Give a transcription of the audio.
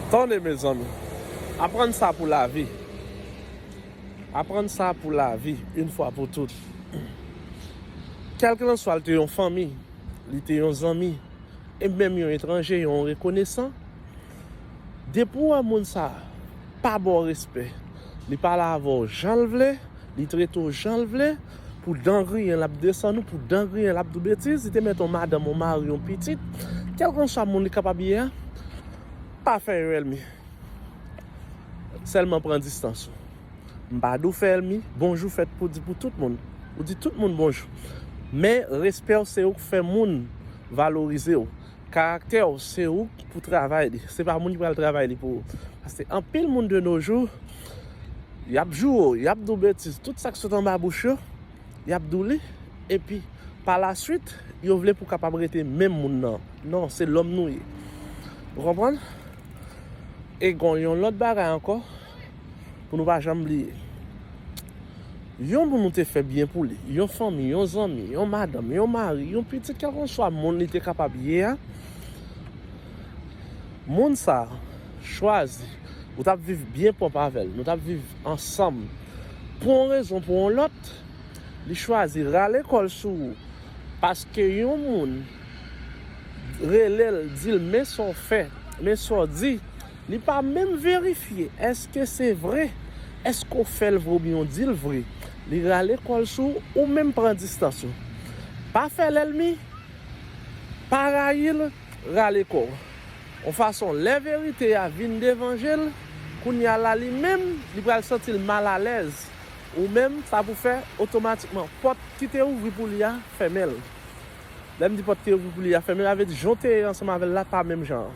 Tande mezanmi. Aprann sa pou lavi. Aprann sa pou lavi yn fwa pou tout. Kèlkelanswa l te yon fanmi, li te yon zanmi, e menm yon etranje, yon rekonesan, depi w wè moun sa pa ba w respè, li pale avè w jan l vle, Li trete w jan l vle, pou dan griyen l ap desann ou, pou dan griyen l ap di w betiz, li te mèt yon madanm, yon mari, yon pitit, kèlkanswa moun li kapab ye a, pa fè yo èlmi. Sèlman pran distans ou. M pa di w fè èlmi, bonjou fèt pou di pou tout moun. Ou di tout moun bonjou. Men respè w se ou k fè moun valorize w. Karaktè w se ou ki pou travay li, se pa moun ki pral travay li pou ou. Paske anpil moun de no jou, y ap joure w, y ap di w betiz, tout sa k sot anba bouch yo, y ap di w li, epi pa la swit, yo vle pou w kapab rete menm moun nan. Non, se lòm nou ye. Ou konprann? E gon yon lòt bagay ankò. pou nou pa janm bliye. Yon moun nou te fè byen pou li, yon fanmi, yon zanmi, yon madanm, yon mari, yon pitit, kèlkanswa moun li te kapab ye a, moun sa a chwazi, ou t ap viv byen pwòp avè l, nou t ap viv ansanm, pou yon rezon, pou yon lòt, li chwazi rale kò l sou ou, paske yon moun rele l, di l men sa w fè, men sa w di. Li pa menm verifye eske se vre, eske w fè l vre oubyen w di l vre. Li rale kò l sou w, ou menm pran distans ou. Pa fè lèlmi, pa rayi l, rale kò w. On fason lè verite a vin devan je l, kounye a la li menm, li pral santi l mal alèz. Ou menm, sa pou fè, otomatikman, pòt ki te ouvri pou li a, fèmen l. Lè m di pòt ki ouvri pou li a fèmen, sa vle di jan w te ye ansanm avè l la pa menm jan an.